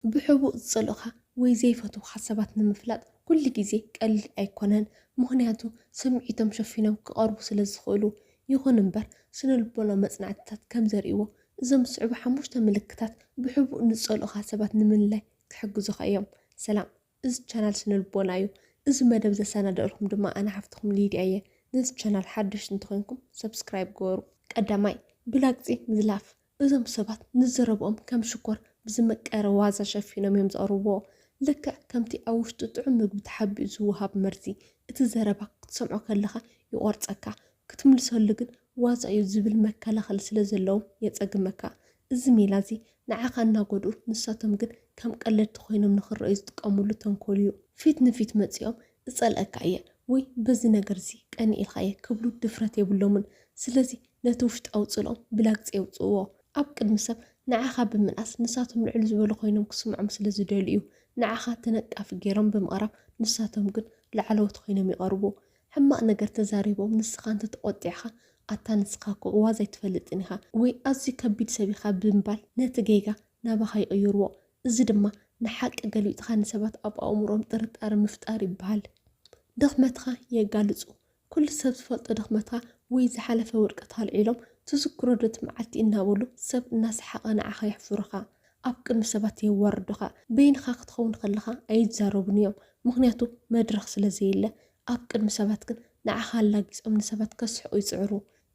ብሕቡእ ዝጸልኡኻ ወይ ዘይፈትዉኻ ሰባት ንምፍላጥ ኩሉ ግዜ ቀሊል ኣይኮነን፣ ምኽንያቱ ስምዒቶም ሸፊኖም ክቐርቡ ስለ ዝኽእሉ። ይኹን እምበር፣ ስነልቦናዊ መጽናዕትታት ከም ዘርእይዎ፣ እዞም ዝስዕቡ ሓሙሽተ ምልክታት ብሕቡእ ንዝጸልኡኻ ሰባት ንምልላይ ክሕግዙኻ እዮም። ሰላም፣ እዚ ቻናል ስነልቦና እዩ። እዚ መደብ ዘሰናደእልኩም ድማ ኣነ ሓፍትኹም ሊድያ እየ። ነዚ ቻናል ሓደሽቲ እንተኾይንኩም ሰብስክራይብ ግበሩ። ቀዳማይ፣ ብላግጺ ምዝላፍ። እዞም ሰባት ንዘረብኦም ከም ሽኮር ብዝመቀረ ዋዛ ሸፊኖም እዮም ዘቕርብዎ። ልክዕ ከምቲ ኣብ ውሽጢ ጥዑም ምግቢ ተሓቢኡ ዝወሃብ መርዚ፣ እቲ ዘረባ ክትሰምዖ ከለኻ ይቖርጸካ፣ ክትምልሰሉ ግን ዋዛ እዩ ዝብል መከላኸሊ ስለ ዘለዎም የጸግመካ። እዚ ሜላ እዚ ንዓኻ እናጎድኡ ንሳቶም ግን ከም ቀለድቲ ኮይኖም ንኽረኣዩ ዝጥቀምሉ ተንኮል እዩ። ፊት ንፊት መጺኦም እጸልኣካ እየ ወይ በዚ ነገር'ዚ ቀኒኤልካ እየ ክብሉ ድፍረት የብሎምን። ስለዚ ነቲ ውሽጣዊ ጽልኦም ብላግጺ የውጽእዎ። ኣብ ቅድሚ ሰብ ንዓኻ ብምንኣስ ንሳቶም ልዕል ዝበሉ ኮይኖም ክስምዖም ስለ ዝደልዩ እዩ። ንዓኻ ተነቃፊ ገይሮም ብምቕራብ ንሳቶም ግን ላዕለዎት ኮይኖም ይቐርቡ። ሕማቕ ነገር ተዛሪቦም ንስኻ እንተ ተቖጢዕካ ኣታ ንስኻ እኮ ዋዛ ኣይትፈልጥን ኢኻ ወይ ኣዝዩ ከቢድ ሰብ ኢኻ ብምባል ነቲ ጌጋ ናባኻ ይቕይርዎ። እዚ ድማ ንሓቂ ገልቢጥካ ንሰባት ኣብ ኣእምሮኦም ጥርጣረ ምፍጣር ይበሃል። ድኽመትካ የጋልጹ ኩሉ ሰብ ዝፈልጦ ድኽመትካ ወይ ዝሓለፈ ውድቀት ኣልዒሎም ትዝክሮ ዶ እቲ መዓልቲ እናበሉ ሰብ እናሰሓቐ ንዓኻ የሕፍሩኻ ኣብ ቅድሚ ሰባት የዋርዱኻ በይንኻ ክትኸውን ከለኻ ኣይዛረቡን እዮም ምኽንያቱ መድረኽ ስለ ዘየለ ኣብ ቅድሚ ሰባት ግን ንዓኻ ኣላጊጾም ንሰባት ከስሕቑ ይጽዕሩ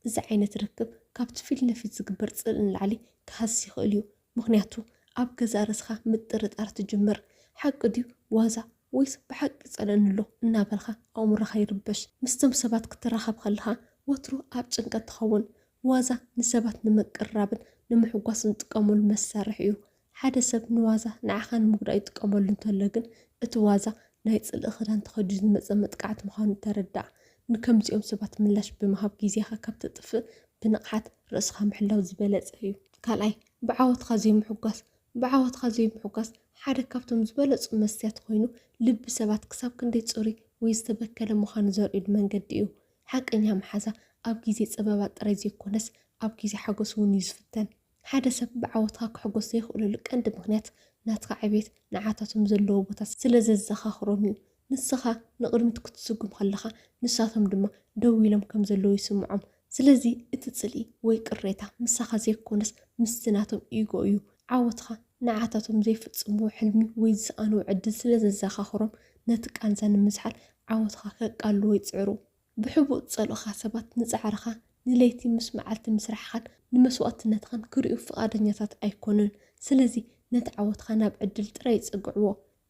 እዚ ዓይነት ርክብ ካብቲ ፊት ንፊት ዝግበር ጽልኢ ንላዕሊ ክሃስስ ይኽእል እዩ ምኽንያቱ ኣብ ገዛእ ርእስኻ ምጥርጣር ትጅምር፣ ሓቂ ድዩ ዋዛ ወይስ ብሓቂ ይጸልኣኒ ኣሎ እናበልካ ኣእምሮኻ ይርበሽ። ምስቶም ሰባት ክትራኸብ ከለኻ ወትሩ ኣብ ጭንቀት ትኸውን። ዋዛ ንሰባት ንምቅርራብን ንምሕጓስን ዝጥቀመሉ መሳርሒ እዩ። ሓደ ሰብ ንዋዛ ንዓኻ ንምጉዳእ ይጥቀመሉ እንተሎ ግን እቲ ዋዛ ናይ ጽልኢ ክዳን ተኸዲኑ ዝመጸ መጥቃዕቲ ምዃኑ ተረዳእ። ንከምዚኦም ሰባት ምላሽ ብምሃብ ግዜኻ ካብ ተጥፍእ ብንቕሓት ርእስኻ ምሕላው ዝበለጸ እዩ። ካልኣይ፣ ብዓወትካ ዘይምሕጓስ፣ ብዓወትካ ዘይምሕጓስ ሓደ ካብቶም ዝበለጹ መስትያት ኮይኑ፣ ልቢ ሰባት ክሳብ ክንደይ ጽሩይ ወይ ዝተበከለ ምዃኑ ዘርእዩሉ መንገዲ እዩ። ሓቀኛ መሓዛ ኣብ ግዜ ጸበባ ጥራይ ዘይኮነስ ኣብ ግዜ ሓጎስ እውን እዩ ዝፍተን። ሓደ ሰብ ብዓወትካ ክሕጎስ ዘይኽእለሉ ቀንዲ ምኽንያት ናትካ ዕብየት ንዓታቶም ዘለዎ ቦታ ስለ ዘዘኻኽሮም እዩ። ንስኻ ንቕድሚት ክትስጉም ከለኻ ንሳቶም ድማ ደው ኢሎም ከም ዘለዉ ይስምዖም። ስለዚ እቲ ጽልኢ ወይ ቅሬታ ምሳኻ ዘይኮነስ ምስቲ ናቶም ኢጎ እዩ። ዓወትካ ንዓታቶም ዘይፍጽምዎ ሕልሚ ወይ ዝሰኣንዎ ዕድል ስለ ዘዘኻኽሮም ነቲ ቃንዛ ንምዝሓል ዓወትኻ ከቃልልዎ ይጽዕሩ። ብሕቡእ ትጸልኡኻ ሰባት ንጻዕርኻ፣ ንለይቲ ምስ መዓልቲ ምስራሕኻን ንመስዋእትነትኻን ክርእዩ ፍቓደኛታት ኣይኰኑን። ስለዚ፣ ነቲ ዓወትካ ናብ ዕድል ጥራይ ይጸግዕዎ።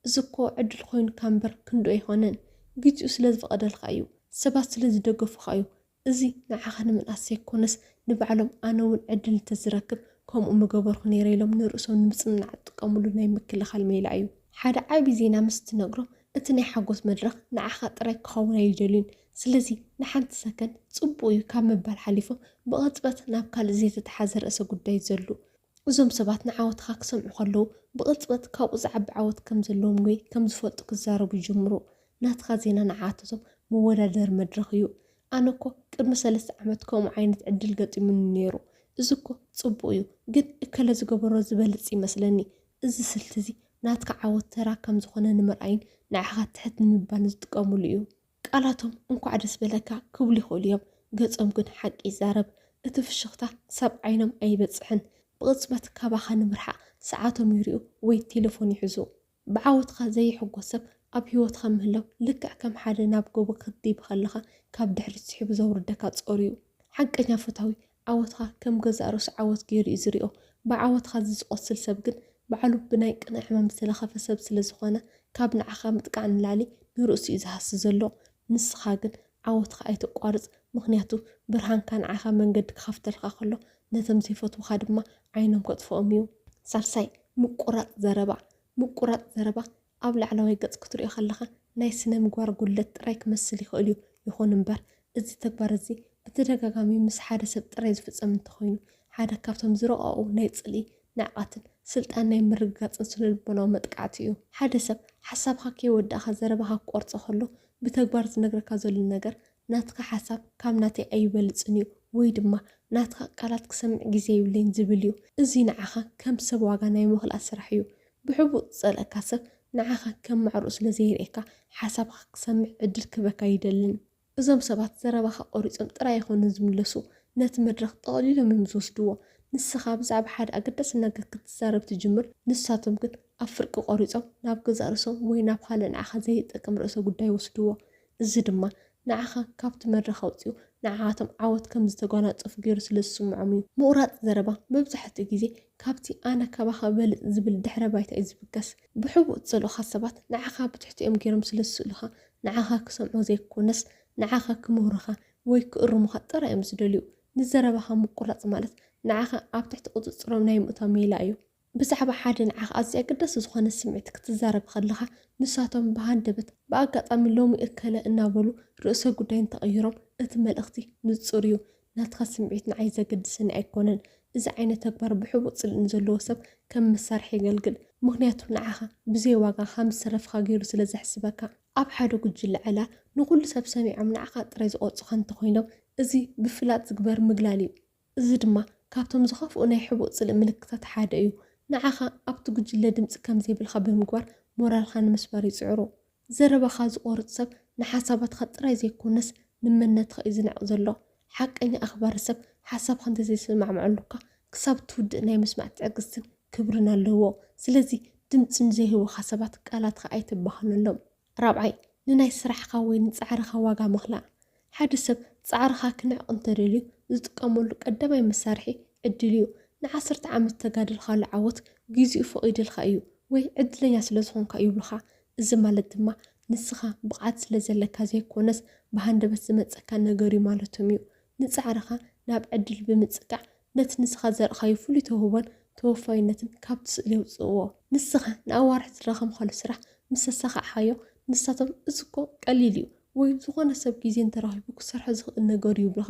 እዚ'ኮ ዕድል ኰይኑካ እምበር ክንድኡ ኣይኰነን። ግዜኡ ስለ ዝፈቐደልካ እዩ። ሰባት ስለ ዝደገፉኻ እዩ። እዚ ንዓኻ ንምንኣስ ዘይኰነስ፣ ንባዕሎም ኣነ'ውን ዕድል እንተ ዝረክብ ከምኡ ምገበርኩ ነይረ ኢሎም ንርእሶም ንምጽንናዕ ዝጥቀሙሉ ናይ ምክልኻል ሜላ እዩ። ሓደ ዓቢ ዜና ምስ ትነግሮም እቲ ናይ ሓጎስ መድረኽ ንዓኻ ጥራይ ክኸውን ኣይደልዩን፣ ስለዚ ንሓንቲ ሰከንድ ጽቡቕ እዩ ካብ ምባል ሓሊፎም ብቕጽበት ናብ ካልእ ዘይተተሓዘ ርእሰ ጉዳይ ይዘሉ። እዞም ሰባት ንዓወትኻ ክሰምዑ ከለዉ ብቕጽበት ካብኡ ዝዓቢ ዓወት ከም ዘለዎም ወይ ከም ዝፈልጡ ክዛረቡ ይጅምሩ። ናትካ ዜና ንዓኣተቶም መወዳደሪ መድረኽ እዩ። ኣነ እኮ ቅድሚ ሰለስተ ዓመት ከምኡ ዓይነት ዕድል ገጢሙኒ ነይሩ፣ እዚ እኮ ጽቡቕ እዩ፣ ግን እከለ ዝገበሮ ዝበልጽ ይመስለኒ እዚ ስልቲ እዚ ናትካ ዓወት ተራ ከም ዝኾነ ንምርኣይን ንዓኻ ትሕት ንምባልን ዝጥቀምሉ እዩ። ቃላቶም እንኳዕ ደስ በለካ ክብሉ ይኽእሉ እዮም፣ ገጾም ግን ሓቂ ይዛረብ። እቲ ፍሽኽታ ክሳብ ዓይኖም ኣይበጽሕን፣ ብቕጽበት ካባኻ ንምርሓቕ ሰዓቶም ይርእዩ ወይ ቴለፎን ይሕዙ። ብዓወትካ ዘይሕጎስ ሰብ ኣብ ህይወትካ ምህላው ልክዕ ከም ሓደ ናብ ጎቦ ክትድይብ ከለኻ ካብ ድሕሪት ስሒቡ ዘውርደካ ጾር እዩ። ሓቀኛ ፈታዊ ዓወትካ ከም ገዛእ ርእሱ ዓወት ገይሩ እዩ ዝሪኦ። ብዓወትካ እዚ ዝቖስል ሰብ ግን ባዕሉ ብናይ ቅነ ሕማም ዝተለኸፈ ሰብ ስለ ዝኾነ ካብ ንዓኻ ምጥቃዕ ንላዕሊ ንርእሱ እዩ ዝሃሲ ዘሎ። ንስኻ ግን ዓወትካ ኣይተቋርጽ ምኽንያቱ ብርሃንካ ንዓኻ መንገዲ ክኸፍተልካ ከሎ ነቶም ዘይፈትዉኻ ድማ ዓይኖም ከጥፍኦም እዩ። ሳልሳይ፣ ምቁራጽ ዘረባ። ምቁራጽ ዘረባ ኣብ ላዕለዋይ ገጽ ክትሪኦ ከለኻ ናይ ስነ-ምግባር ጉድለት ጥራይ ክመስል ይኽእል እዩ፣ ይኹን እምበር እዚ ተግባር እዚ ብተደጋጋሚ ምስ ሓደ ሰብ ጥራይ ዝፍጸም እንተኾይኑ፣ ሓደ ካብቶም ዝረቐቑ ናይ ጽልኢ፣ ንዕቀትን ስልጣን ናይ ምርግጋጽን ስነ-ልቦናዊ መጥቃዕቲ እዩ። ሓደ ሰብ ሓሳብኻ ከይወዳእካ ዘረባኻ ክቆርጾ ከሎ ብተግባር ዝነግረካ ዘሎ ነገር ናትካ ሓሳብ ካብ ናተይ ኣይበልጽን እዩ ወይ ድማ ናትካ ቃላት ክሰምዕ ግዜ የብለይን ዝብል እዩ። እዚ ንዓኻ ከም ሰብ ዋጋ ናይ ምኽላእ ስራሕ እዩ። ብሕቡእ ዝጸልኣካ ሰብ ንዓኻ ከም ማዕረኡ ስለ ዘይርእየካ ሓሳብካ ክሰምዕ ዕድል ክህበካ ኣይደልን። እዞም ሰባት ዘረባኻ ቆሪጾም ጥራይ ኣይኮኑን ዝምለሱ ነቲ መድረኽ ጠቕሊሎም እዮም ዝወስድዎ። ንስኻ ብዛዕባ ሓደ ኣገዳሲ ነገር ክትዛረብ ትጅምር ንሳቶም ግን ኣብ ፍርቂ ቆሪጾም ናብ ገዛእ ርእሶም ወይ ናብ ካልእ ንዓኻ ዘይጠቅም ርእሰ ጉዳይ ይወስድዎ። እዚ ድማ ንዓኻ ካብቲ መድረኽ ኣውጺኡ ንዓኣቶም ዓወት ከም ዝተጓናጸፉ ገይሩ ስለ ዝስምዖም እዩ። ምቑራጽ ዘረባ መብዛሕትኡ ግዜ ካብቲ ኣነ ካባኻ እበልጽ ዝብል ድሕረ ባይታ እዩ ዝብገስ። ብሕቡእ እትጸልኡኻ ሰባት ንዓኻ ብትሕቲኦም ገይሮም ስለ ዝስእሉኻ ንዓኻ ክሰምዑ ዘይኮነስ ንዓኻ ክምህሩኻ ወይ ክእርሙኻ ጥራይ እዮም ዝደልዩ። ንዘረባኻ ምቁራጽ ማለት ንዓኻ ኣብ ትሕቲ ቁጽጽሮም ናይ ምእታው ሜላ እዩ። ብዛዕባ ሓደ ንዓኻ ኣዝዩ ኣገዳሲ ዝኾነ ስምዒት ክትዛረብ ከለኻ፣ ንሳቶም ብሃንደበት፣ ብኣጋጣሚ ሎሚ እከለ እናበሉ ርእሰ ጉዳይ እንተቐይሮም፣ እቲ መልእኽቲ ንጹር እዩ፣ ናትካ ስምዒት ንዓይ ዘገድሰኒ ኣይኮነን። እዚ ዓይነት ተግባር ብሕቡእ ጽልኢ ንዘለዎ ሰብ ከም መሳርሒ የገልግል፣ ምኽንያቱ ንዓኻ ብዘይ ዋጋ ከም ዝተረፍካ ገይሩ ስለ ዘሕስበካ። ኣብ ሓደ ጉጅለ ዕላል፣ ንኹሉ ሰብ ሰሚዖም ንዓኻ ጥራይ ዝቖርጹኻ እንተኾይኖም፣ እዚ ብፍላጥ ዝግበር ምግላል እዩ። እዚ ድማ ካብቶም ዝኸፍኡ ናይ ሕቡእ ጽልኢ ምልክታት ሓደ እዩ። ንዓኻ ኣብቲ ጉጅለ ድምጺ ከም ዘይብልካ ብምግባር ሞራልካ ንምስባር ይጽዕሩ። ዘረባኻ ዝቖርጽ ሰብ ንሓሳባትካ ጥራይ ዘይኮነስ ንመንነትካ እዩ ዝንዕቕ ዘሎ። ሓቀኛ ኣኽባሪ ሰብ ሓሳብካ እንተ ዘይሰማዕምዐሉካ ክሳብ እትውድእ ናይ ምስማዕ ትዕግስትን ክብርን ኣለዎ። ስለዚ ድምጺ ንዘይህቡኻ ሰባት ቃላትካ ኣይተባኽነሎም። ራብዓይ፣ ንናይ ስራሕኻ ወይ ንጻዕርኻ ዋጋ ምኽላእ። ሓደ ሰብ ጻዕርኻ ክነዕቕ እንተደልዩ ዝጥቀመሉ ቀዳማይ መሳርሒ ዕድል እዩ። ንዓሰርተ ዓመት ዝተጋደልካሉ ዓወት ግዜኡ ፈቒድልካ እዩ ወይ ዕድለኛ ስለ ዝኾንካ እዩ ይብሉኻ። እዚ ማለት ድማ ንስኻ ብቕዓት ስለ ዘለካ ዘይኮነስ ብሃንደበት ዝመጸካ ነገር'ዩ ማለቶም እዩ። ንጻዕርኻ ናብ ዕድል ብምጽቃዕ ነቲ ንስኻ ዘርኣኻዮ ፍሉይ ተውህቦን ተወፋይነትን ካብቲ ስእሊ ኣውጽእዎ። ንስኻ ንኣዋርሕ ዝደኸምካሉ ስራሕ ምስ ኣሳኻዕካዮ፣ ንሳቶም እዚ እኮ ቀሊል እዩ ወይ ዝኾነ ሰብ ግዜ እንተረኺቡ ክሰርሖ ዝኽእል ነገር እዩ ይብሉኻ።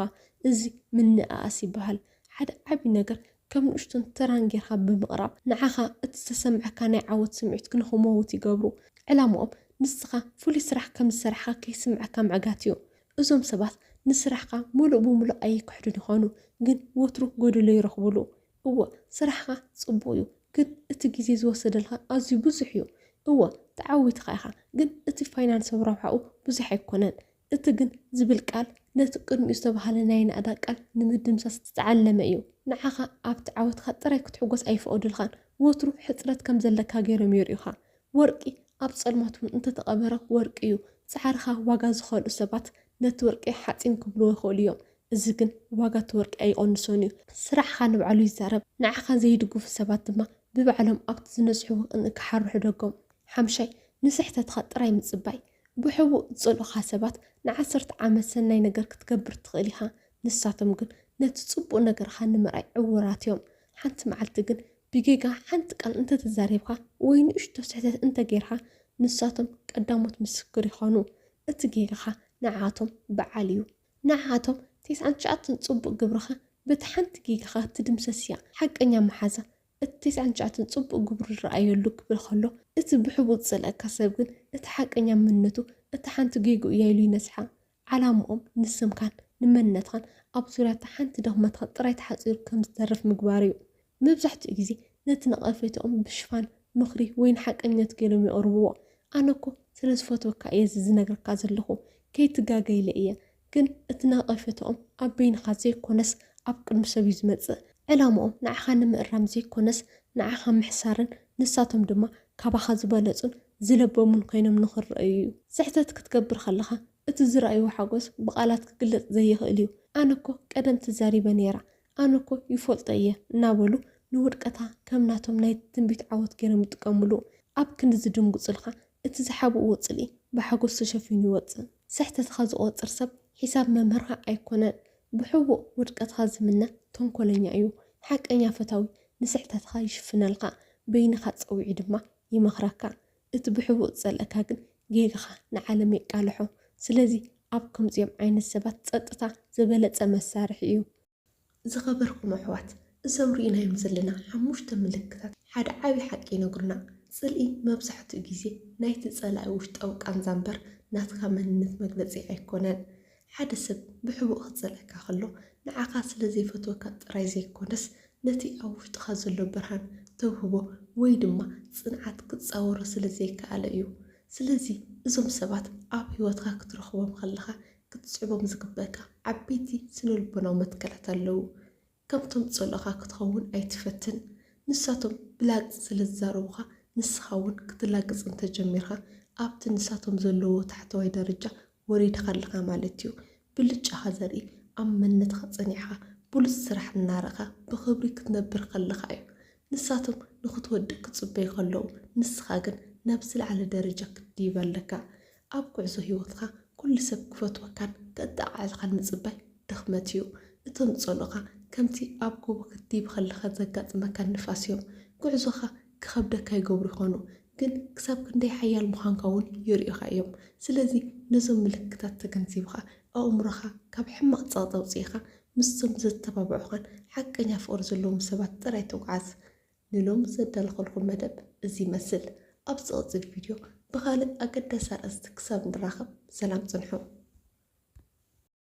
እዚ ምንእኣስ ይበሃል። ሓደ ዓቢ ነገር ከም ንእሽቶን ተራን ጌርካ ብምቕራብ፣ ንዓኻ እቲ ዝተሰምዓካ ናይ ዓወት ስምዒት ክንክመውት ይገብሩ። ዕላማኦም ንስኻ ፍሉይ ስራሕ ከም ዝሰርሕካ ከይስምዓካ ምዕጋት እዩ። እዞም ሰባት ንስራሕኻ ምሉእ ብምሉእ ኣይክሕዱን ይኾኑ፣ ግን ወትሩ ጎደሎ ይረኽቡሉ። እወ፣ ስራሕኻ ጽቡቕ እዩ፣ ግን እቲ ግዜ ዝወሰደልካ ኣዝዩ ብዙሕ እዩ። እወ፣ ተዓዊትኻ ኢኻ፣ ግን እቲ ፋይናንሳዊ ረብሓኡ ብዙሕ ኣይኮነን። እቲ ግን ዝብል ቃል ነቲ ቅድሚኡ ዝተባህለ ናይ ናእዳ ቃል ንምድምሳስ ዝተዓለመ እዩ። ንዓኻ ኣብቲ ዓወትካ ጥራይ ክትሕጎስ ኣይፍቐዱልካን፣ ወትሩ ሕጽረት ከም ዘለካ ገይሮም የርእዩኻ። ወርቂ ኣብ ጸልማት እውን እንተተቐበረ ወርቂ እዩ። ጻዕርኻ ዋጋ ዝኸልኡ ሰባት ነቲ ወርቂ ሓጺን ክብልዎ ይኽእሉ እዮም፣ እዚ ግን ዋጋ እቲ ወርቂ ኣይቕንሶን እዩ። ስራሕኻ ንባዕሉ ይዛረብ፣ ንዓኻ ዘይድግፉ ሰባት ድማ ብባዕሎም ኣብቲ ዝነጽሕዎ ቅንኢ ክሓርሑ ደጎም። ሓምሻይ፣ ንስሕተትካ ጥራይ ምጽባይ። ብሕቡእ ዝጸልኡኻ ሰባት ንዓሰርተ ዓመት ሰናይ ነገር ክትገብር ትኽእል ኢኻ፣ ንሳቶም ግን ነቲ ጽቡቕ ነገርካ ንምርኣይ ዕዉራት እዮም። ሓንቲ መዓልቲ ግን ብጌጋ ሓንቲ ቃል እንተ ተዛሪብካ ወይ ንእሽቶ ስሕተት እንተ ጌርካ ንሳቶም ቀዳሞት ምስክር ይኾኑ። እቲ ጌጋኻ ንዓኣቶም ብዓል እዩ። ንዓኣቶም ቴስዓን ትሽዓተን ጽቡቕ ግብርኻ በቲ ሓንቲ ጌጋኻ ትድምሰስ እያ። ሓቀኛ መሓዛ እቲ ቴስዓን ትሽዓተን ጽቡቕ ግብሩ ዝረኣየሉ ክብል ከሎ እቲ ብሕቡእ ዝጸልኣካ ሰብ ግን እቲ ሓቀኛ መንነቱ እታ ሓንቲ ጌግኡ እያ ኢሉ ይነስሓ። ዓላምኦም ንስምካን ንመንነትኻን ኣብ ዙርያ እታ ሓንቲ ድኽመትኻ ጥራይ ተሓጺሩ ከም ዝተርፍ ምግባር እዩ። መብዛሕትኡ ግዜ ነቲ ነቐፌታኦም ብሽፋን ምኽሪ ወይ ንሓቀኝነት ገይሮም የቕርብዎ። ኣነ እኮ ስለ ዝፈትወካ እየ እዚ ዝነግረካ ዘለኹ፣ ከይትጋገ ኢለ እየ። ግን እቲ ነቐፌታኦም ኣብ በይንኻ ዘይኮነስ ኣብ ቅድሚ ሰብ እዩ ዝመጽእ። ዕላምኦም ንዓኻ ንምእራም ዘይኮነስ ንዓኻ ምሕሳርን ንሳቶም ድማ ካባኻ ዝበለጹን ዝለበሙን ኮይኖም ንኽረኣዩ እዩ። ስሕተት ክትገብር ከለኻ እቲ ዝረኣይዎ ሓጎስ ብቓላት ክግለጽ ዘይኽእል እዩ። ኣነ እኮ ቀደም ተዛሪበ ነይራ፣ ኣነ እኮ ይፎልጦ እየ እናበሉ ንውድቀታ ከም ናቶም ናይ ትንቢት ዓወት ገይሮም ይጥቀምሉ። ኣብ ክንዲ ዝድንግጹልካ እቲ ዝሓብእዎ ጽልኢ ብሓጎስ ተሸፊኑ ይወጽእ። ስሕተትኻ ዝቖጽር ሰብ ሒሳብ መምህርካ ኣይኮነን። ብሕቡእ ውድቀትካ ዝምነ ተንኮለኛ እዩ። ሓቀኛ ፈታዊ ንስሕተትኻ ይሽፍነልካ፣ በይንኻ ጸዊዑ ድማ ይመኽረካ እቲ ብሕቡእ ዝጸልኣካ ግን ጌጋኻ ንዓለም የቃልሖ ስለዚ ኣብ ከምዚኦም ዓይነት ሰባት ጸጥታ ዝበለጸ መሳርሒ እዩ። ዝኸበርኩም ኣሕዋት እዞም ሪኢናዮም ዘለና ሓሙሽተ ምልክታት ሓደ ዓቢ ሓቂ ይነግሩና ጽልኢ መብዛሕትኡ ግዜ ናይቲ ጸላኢ ውሽጣዊ ቃንዛ እምበር ናትካ መንነት መግለጺ ኣይኮነን ሓደ ሰብ ብሕቡእ ክጸልኣካ ከሎ ንዓኻ ስለ ዘይፈትወካ ጥራይ ዘይኮነስ ነቲ ኣብ ውሽጥኻ ዘሎ ብርሃን፣ ተውህቦ ወይ ድማ ጽንዓት ክጻወሮ ስለ ዘይከኣለ እዩ። ስለዚ እዞም ሰባት ኣብ ህይወትካ ክትረኽቦም ከለኻ ክትስዕቦም ዝግበእካ ዓበይቲ ስነልቦናዊ መትከላት ኣለዉ። ከምቶም ዝጸልኡኻ ክትኸውን ኣይትፈትን። ንሳቶም ብላግጺ ስለ ዝዛረቡኻ ንስኻ እውን ክትላግጽ እንተ ጀሚርካ ኣብቲ ንሳቶም ዘለዉዎ ታሕተዋይ ደረጃ ወሪድካ ኣለኻ ማለት እዩ። ብልጫኻ ዘርኢ ኣብ መንነትካ ጸኒዕካ ብሉጽ ስራሕ እናረእካ ብኽብሪ ክትነብር ከለኻ እዩ። ንሳቶም ንኽትወድቅ ክጽበዩ ከለዉ ንስኻ ግን ናብ ዝለዓለ ደረጃ ክትድይብ ኣለካ። ኣብ ጉዕዞ ህይወትካ ኩሉ ሰብ ክፈትወካን ከጠቓዕልኻን ምጽባይ ድኽመት እዩ። እቶም ዝጸልኡኻ ከምቲ ኣብ ጎቦ ክትድይብ ከለኻ ዘጋጥመካ ንፋስ እዮም። ጉዕዞኻ ክኸብደካ ይገብሩ ይኾኑ፣ ግን ክሳብ ክንደይ ሓያል ምዃንካ እውን የርእዩኻ እዮም። ስለዚ ነዞም ምልክታት ተገንዚብኻ ኣእምሮኻ ካብ ሕማቕ ጸቕጢ ኣውጺእካ ምስቶም ዘተባብዑኻን ሓቀኛ ፍቕሪ ዘለዎም ሰባት ጥራይ ተጓዓዝ። ንሎሚ ዘዳለኹልኩም መደብ እዚ ይመስል። ኣብ ዝቕጽል ቪድዮ ብኻልእ ኣገዳሲ ኣርእስቲ ክሳብ ንራኸብ ሰላም ጽንሑ።